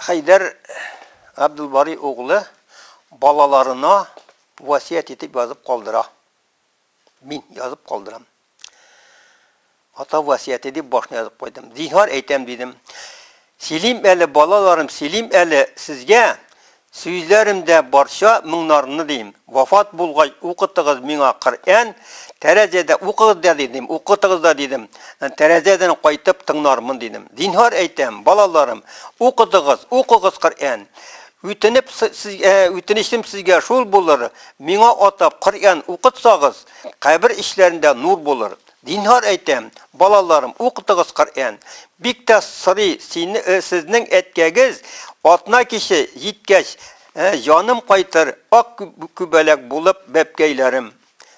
Хәйдәр Габдулбари углы балаларына васият итеп язып калдыра. Мин язып калдырам. Ата васыяте дип башына язып куйдым. Зинһар әйтәм, дидем. Сөйлим әле, балаларым, сөйлим әле сезгә сүзләремдә барча моңнарны, дим. Вафат булгач, укытыгыз миңа Коръән, тәрәзәдә укыгыз да, дидем, укытыгыз да, дидем. Тәрәзәдән кайтып тыңнармын, дидем. Зинһар әйтәм, балаларым, укытыгыз, укыгыз Коръән. Үтенеп сезгә, үтенечем сезгә шул булыр, миңа атап Коръән укытсагыз, кабер ичләрендә нур булыр. Зинһар әйтәм, балаларым, укытыгыз Коръән. Бик тә сорый сезнең әткәгез, атна киче җиткәч, җаным кайтыр, ак күбәләк булып бәбкәйләрем.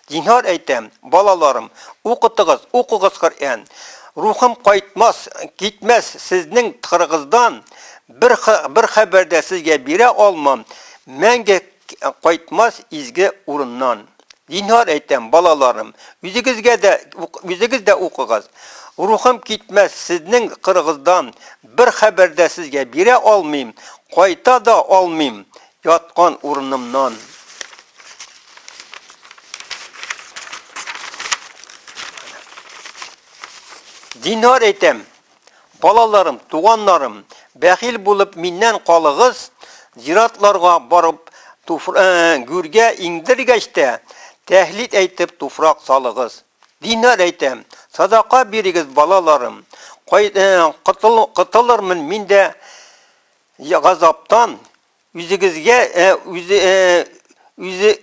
Зинһар әйтәм, балаларым, укытыгыз, укыгыз Коръән. Рухым кайтмас, китмәс сезнең тхырыгыздан, бер хәбәр дә сезгә бирә алмам, мәңге Кайтмас изге урыннан. Зинһар әйтәм, балаларым, үзегезгә дә, үзегез дә укыгыз. Рухым китмәс сезнең кырыгыздан, бер хәбәр дә сезгә бирә алмыйм, кайта да алмыйм яткан урынымнан. Зинһар әйтәм. Балаларым, туганнарым, бәхил булып миннән калыгыз, зиратларга барып, туфр... э, гүргә иңдергәч тә, тәһлил әйтеп туфрак салыгыз. Зинһар әйтәм, садака бирегез, балаларым. Кай... э, котыл... котылырмын мин дә я- газаптан, үзегезгә, э, үзе... э, үзе...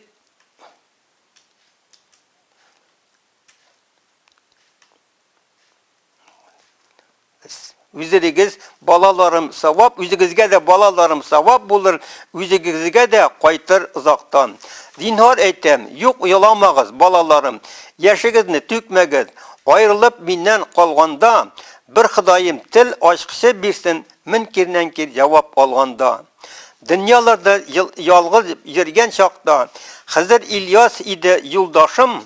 Үзегез балаларым савап, үзегезгә дә балаларым савап булыр, үзегезгә дә кайтыр озактан. Зинһар әйтәм, юк еламагыз, балаларым, яшегезне түкмәгез. Аерылып миннән калганда, бер Ходаем тел ачкычы бирсен, мөнкирнән-кир җавап алганда. Дөньяларда ялгыз йөргән чакта, Хызыр Ильяс иде юлдашым,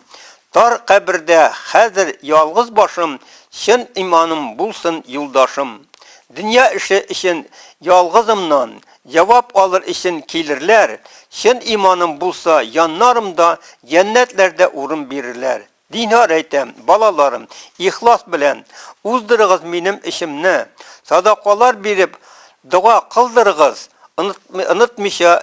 Тар кабердә хәзер ялгыз башым Чын иманым булсын юлдашым Дөнья эше өчен ялгызымнан Җавап алыр өчен килерләр Чын иманым булса яннарымда Җәннәтләрдә урын бирерләр Зинһар әйтәм, балаларым, ихлас белән Уздырыгыз минем эшемне Садакалар биреп дога кылдырыгыз Онытмыйча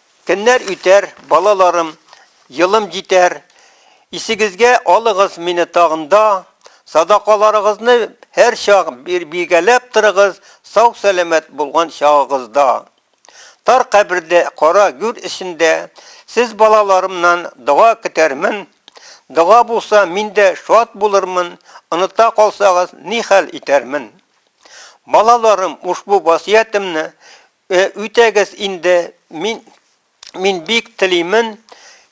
Көннәр үтәр, балаларым, елым җитәр, Исегезгә алыгыз мине тагында, Садакаларыгызны һәрчак биргәләп торыгыз Сау-сәламәт булган чагыгызда. Тар кабердә, кара гүр эчендә Сез балаларымнан дога көтәрмен, Дога булса, мин дә шат булырмын, Оныта калсагыз, ни хәл итәрмен? Балаларым, ушбу васыятемне Э, үтәгез инде, мин, мин бик телимен,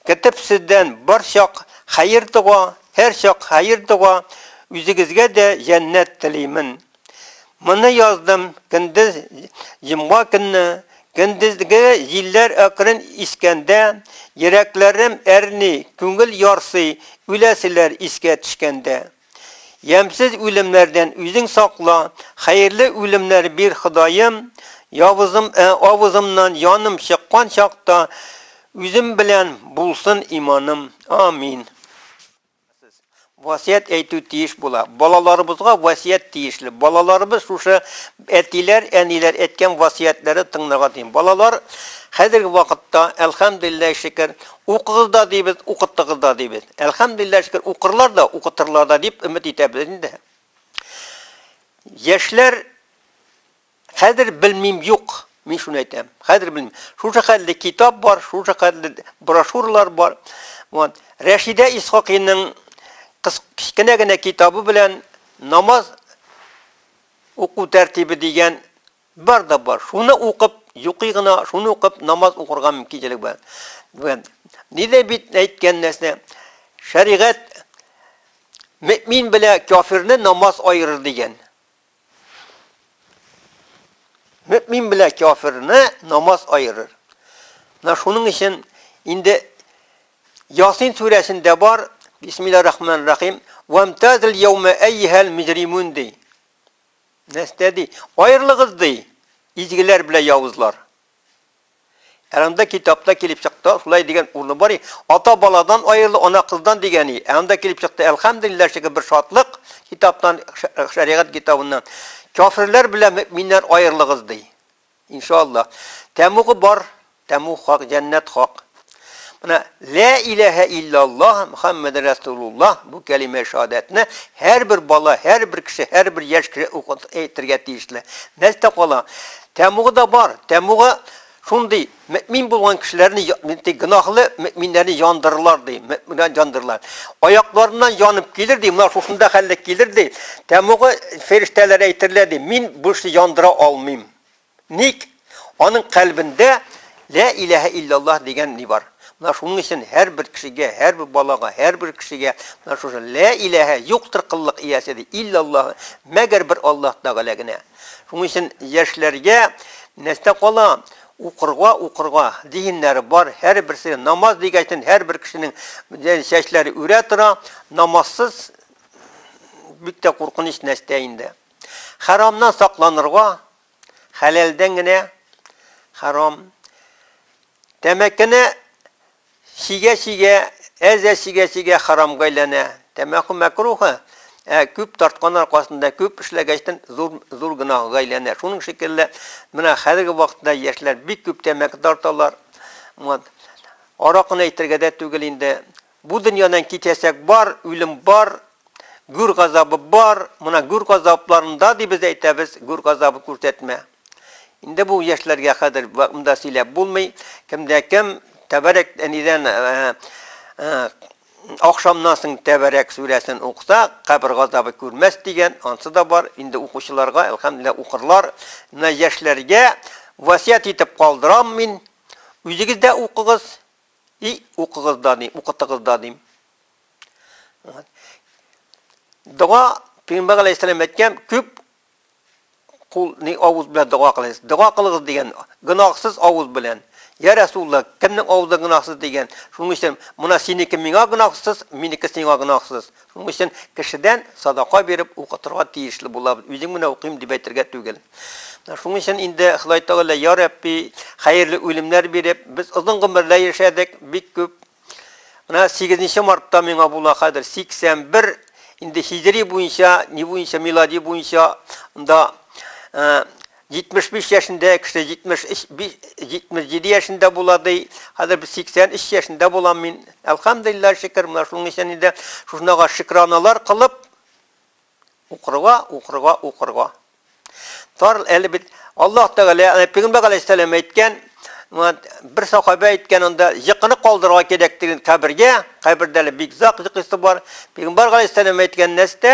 китеп сездән бар чак хәер дога, һәр чак хәер дога, үзегезгә дә җәннәт телимен. Моны яздым көндез җомга көнне, көндезге җилләр әкрен искәндә, йөрәкләрем әрни, күңел ярсый, үләселәр искә төшкәндә. Ямьсез үлемнәрдән үзең сакла, Хәерле үлемнәр бир, Ходаем, Явызым, ә, авызымнан яным чыккан чакта Үзем белән булсын иманым. Амин. Васыять әйтү тиеш була. Балаларыбызга васыять тиешле. Балаларыбыз шушы Әтиләр, әниләр әйткән васыятьләре тыңларга тиң. Балалар, хәзерге вакытта, әлхәмдүлилләһи шөкер, укыгыз да дибез, укытыгыз да дибез. Әлхәмдүлилләһи шөкер, укырлар да, укытырлар да дип өмет итәбез инде. Яшьләр хәзер белмим юк, мин шуны әйтәм. Хәзер белмим. Шушы хәтле китап бар, шушы хәтле брошюралар бар. Вот. Рәшидә Исхакиның кечкенә генә китабы белән намаз Уку тәртибе дигән бар да бар. Шуны укып, йоклый гына, шуны укып намаз укырга мөмкинчелек бар. Дигән. Нидә бит әйткән нәрсә? Шәригать мөмин белә кафирне намаз айырыр дигән. Мөмин белә кафирны намаз айырыр. На шуның өчен инде Ясин сүрәсендә бар, Бисмилларахманрахим, Вамтазл йәүмә әййәһәл мөҗримүн, ди. Нәрсә ди? Аерылыгыз, ди, изгеләр белән явызлар. Ә анда китапта килеп чыкты, шулай дигән урыны бар и, ата баладан аерылу, ана кыздан дигән и. Ә анда килеп чыкты, әлхәмдүлилләһ шикелле бер шатлык, китаптан, шәригать китабыннан, Кяферләр белән мөэминнәр аерылыгыз, ди. Иншааллаһ. Тәмугы бар, тәмуг хак, җәннәт хак. Менә лә иләһә иллаллаһ Мөхәммәд Расулуллаһ бу кәлимә шаһадәтне һәрбер бала, һәрбер кеше, һәрбер яшь кеше укып әйтергә тиешле. Нәрсә кала? Тәмугы да бар. Тәмугы шундый мөмин булган кешеләрне, ди, гөнаһлы мөминнәрне яндырырлар, ди, мөминнәрне яндырырлар. Аякларыннан янып килер, ди, менә шушында хәлле килер, ди. Тәмугы фирештәләр әйтерләр, ди, мин бу эшне яндыра алмыйм. Ник? Аның кальбендә Лә иләһә илляллаһ дигән ни бар. Менә шуның өчен һәрбер кешегә, һәрбер балага, һәрбер кешегә менә шушы Лә иләһә, юктыр кыллык иясе, ди, илляллаһ, мәгәр бер Аллаһ Тәгалә генә. Шуның өчен яшьләргә нәрсә кала? Укырга, укырга. Зиһеннәре бар, һәрберсе намаз дигәчтен һәрбер кешенең чәчләре үрә тора. Намазсыз бик тә куркыныч нәрсә инде. Харамнан сакланырга, хәләлдән генә харам. Тәмәкене чигә-чигә, әзә чигә-чигә харамга әйләнә. Тәмәке мәкрухы, ә күп тарткан аркасында, күп эшләгәчтен зур зур гынага әйләнә. Шуның шикелле, менә хәзерге вакытта яшьләр бик күп тәмәке тарталар. Вот. Аракыны әйтергә дә түгел инде. Бу дөньядан китәчәк бар, үлем бар, гүр газабы бар, мона гүр газапларында ди без әйтәбез, гүр газабы күрсәтмә. Инде бу яшьләргә хәзер монда сөйләп булмый, кемдә кем тәбәрәк әнидән ахшамнан соң тәбәрәк сүрәсен укыса, кабер газабы күрмәс дигән, ансы да бар, инде укучыларга әлхәмдүлилләһ укырлар, менә яшьләргә васыять итеп калдырам мин, үзегез дә укыгыз. И укыгыз да дим, укытыгыз да дим. Дога Пәйгамбәр алейһиссәлам әйткән, күп кул ни авыз белән дога кылыгыз. Дога кылыгыз дигән, гынахсыз авыз белән. Я Расулла, кемнең авызы гынахсыз дигән. Шуның өчен мына синеке миңа гынахсыз, минеке сиңа гынахсыз. Шуның өчен кешедән садака биреп укытырга тиешле булабыз, үзең менә укыйм дип әйтергә түгел. Менә шуның өчен инде Ходай Тәгалә, Йа Рәбби, хәерле үлемнәр биреп, без озын гомерләр яшәдек, бик күп. Менә сигезенче мартта миңа була хәзер 81, инде һиҗри буенча, ни буенча, милади буенча да, 75 яшендә кеше 77 яшендә була ди. Хәзер без 83 яшендә булам мин. Әлхәмдулиллаһ шөкер, менә шуның өчен инде шунага шөкраналар кылып укырга, укырга, укырга. Тар әле бит Аллаһ Тәгалә, аны Пәйгамбәр галәйһиссәлам әйткән, бер сахабә әйткән анда, йокыны калдырырга кирәк диген кабергә, кабердә әле бик зак йокысы бар. Пәйгамбәр галәйһиссәлам әйткән нәрсә,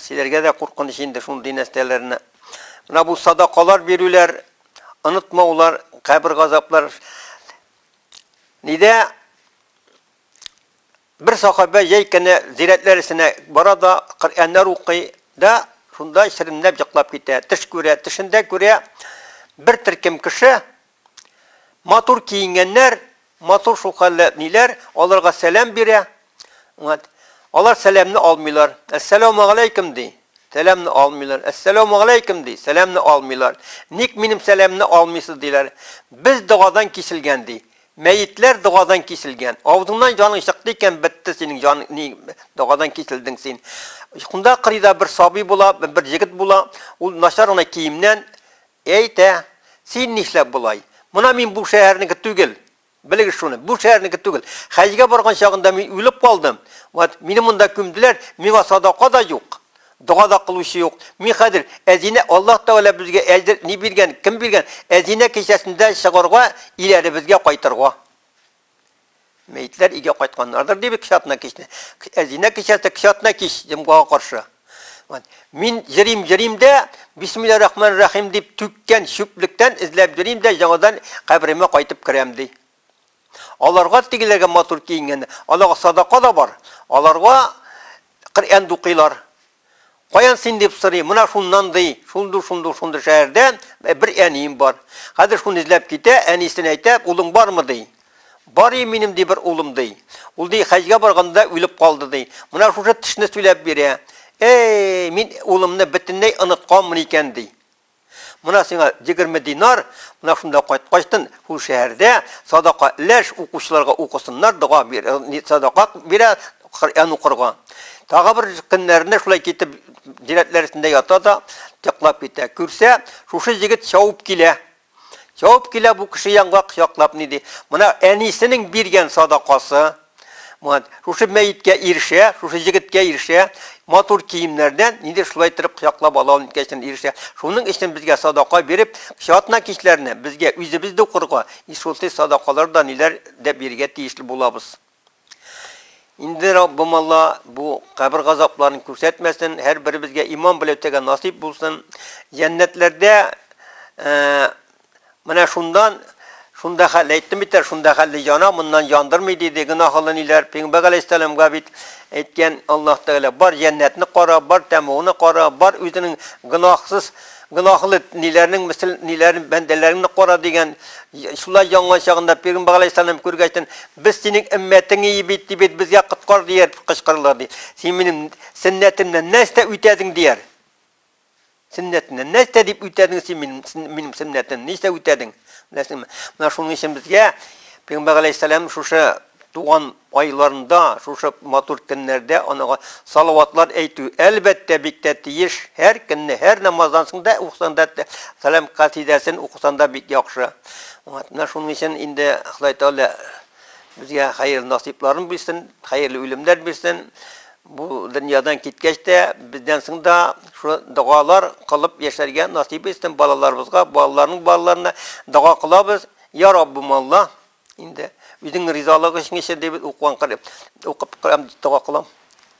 Силәргә дә куркыныч инде шундый нәрсәләрне. Менә бу садакалар бирүләр, онытмаулар, кабер газаплар. Нидә бер сахабә җәй көне зирәтләр эченә бара да, Коръәннәр укый да, шунда чирнәп җыклап китә. Төш күрә, төшендә күрә, бер төркем кеше Матур киенгәннәр, матур шулкадәрле әбниләр аларга сәлам бирә. Вот. Алар сәламне алмыйлар. Әссәләүмәгаләйкүм ди. Сәламне алмыйлар. Әссәләүмәгаләйкүм ди. Сәламне алмыйлар. Ник минем сәламне алмыйсыз, диләр. Без догадан киселгән, ди. Мәетләр догадан киселгән. Авызыңнан җаның чыкты икән, бетте синең җаның, ни догадан киселдең син. Шунда кырыйда бер сабый була, бер җегет була. Ул начар гына киемнән, Әйтә, Син нишләп болай? Мона мин бу шәһәрнеке түгел! Белегез шуны, бу шәһәрнеке түгел! Хәҗгә барган чагында мин үлеп калдым, вот, мине монда күмделәр, миңа садака да юк, дога да кылучы юк. Мин хәзер, Әзинә, Аллаһ Тәгалә безгә әлдер ни биргән, кем биргән, Әзинә кичәсендә чыгарга, иләребезгә кайтырга. Мәетләр өйгә кайтканнардыр, дип кичатна кичне. Әзинә кичәсе кичатна кич җомгага каршы. Мин җырим, җырим дә, бисмилла рахман рахим дип түккән чүплектән эзләп җырим дә, яңадан каберемә кайтып керәм, ди. Аларга тегеләргә матур киенгән, аларга садака да бар, аларга Коръән дукыйлар. Каян син, дип сорыйм. Менә шуннан, ди. Шундук, шундук, шундук шәһәрдә бер әнием бар. Хәзер шуны эзләп китә, әнисен әйтә, Улың бармы? ди. Бар и минем, ди, бер улым, ди. Ул, ди, хәҗгә барганда үлеп калды, ди. Менә шушы тешне сөйләп бирә. Әй, мин улымны бөтенләй онытканмын икән, ди. Мына сиңа егерме динар, мына шунда кайткачтын шул шәһәрдә садака ләш, укучыларга укысыннар, дога бир, э, садака бирә, Коръән укырга. Тагы бер көннәрендә шулай китеп дирәтләр эчендә ята да, яклап китә. Күрсә, шушы егет чавып килә. Чавып килә бу кеше янга кочаклап ни ди? Мына әнисенең биргән садакасы, Мурат, шушы мәеткә ирешә, шушы җегеткә ирешә, матур киемнәрдән нидер шулай иттереп кочаклап ала ул нидкә икән ирешә. Шуның өчен безгә садака биреп, чатна кичләренә безгә үзебез дә укырга и шулчый садакалар да ниләр дә бирергә тиешле булабыз. Инде Раббым Алла бу кабер газапларын күрсәтмәсен, һәрберебезгә иман беләүтәгә насыйп булсын, җәннәтләрдә Менә шундан, шунда хәл, әйттем бит әле, шунда хәлле яна, моннан яндырмый, диде, гөнаһлы ниләр, пигамбәр галәйһиссәламга бит әйткән Аллаһ Тәгалә, бар җәннәтне кара, бар тәмугны кара, бар үзенең гөнаһсыз, гөнаһлы ниләрнең мисл, ниләрен, бәндәләреңне кара, дигән, шулай янган чагында пигамбәр галәйһиссәлам күргәчтен, без синең өммәтең ие бит, ди бит, безгә коткар, дияр, кычкырырлар, ди, син минем сөннәтемнән нәрсә үтәдең, дияр. Сөннәтеннән. Нәрсә дип үтәдең син минем, минем сөннәтен? Нәрсә үтәдең? Беләсеңме? Менә шуның өчен безгә Пәйгамбәр галәйһиссәлам шушы туган айларында, шушы матур көннәрдә анага салаватлар әйтү, әлбәттә, бик тә тиеш. Һәр көнне, һәр намаздан соң да укысан да Сәлам касидәсен укысан да бик яхшы. Менә шуның өчен инде Ходай Тәгалә Безгә хәерле насыйпларын бирсен, хәерле үлемнәр бирсен. Бу дөньядан киткәч тә, бездән соң да шул догалар кылып яшәргә насыйп итсен балаларыбызга, балаларның балаларына дога кылабыз. Я Раббым Алла, инде үзеңнең ризалыгың өчен яшә, дип укыган кылып, укып кылам, дога кылам.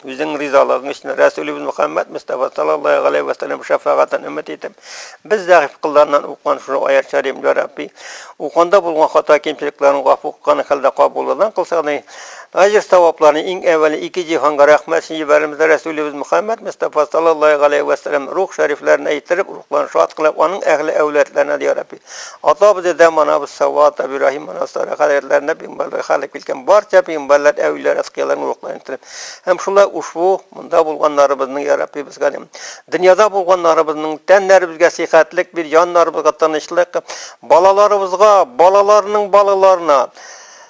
Үзең ризалыгың өчен Рәсүлебез Мөхәммәд Мустафа саллаллаһу галәйһи ва саллям шәфәгатен өмет итеп, без зәгыйфь кылларыннан укыган шул аят шәриф, Йә Рабби, укганда булган хата кимчелекләрен гафу кылган хәлдә кабуллыдан кылсаң ди, әҗер савапларны иң әвәле ике җиһанга рәхмәт өчен җибәрәбез, Рәсүлебез Мөхәммәд Мустафа саллаллаһу галәйһи ва саллям рух шәрифләренә иттереп, рухларын шат кылып, аның әһле әүладларына да, Йә Рабби, Атабыз, дедәм, анабыз Сава, Атап Ибраһим, ана Сара, хәзрәтләренә пигамбәрләр халык килгән барча пигамбәрләр, әүлиләр, әскияләрнең рухларын телим. Һәм шулай ушбу монда булганнарыбызның, я Рабби, безгә дә дөньяда булганнарыбызның тәннәребезгә сихәтлек бир, җаннарыбызга тынычлык, балаларыбызга, балаларының балаларына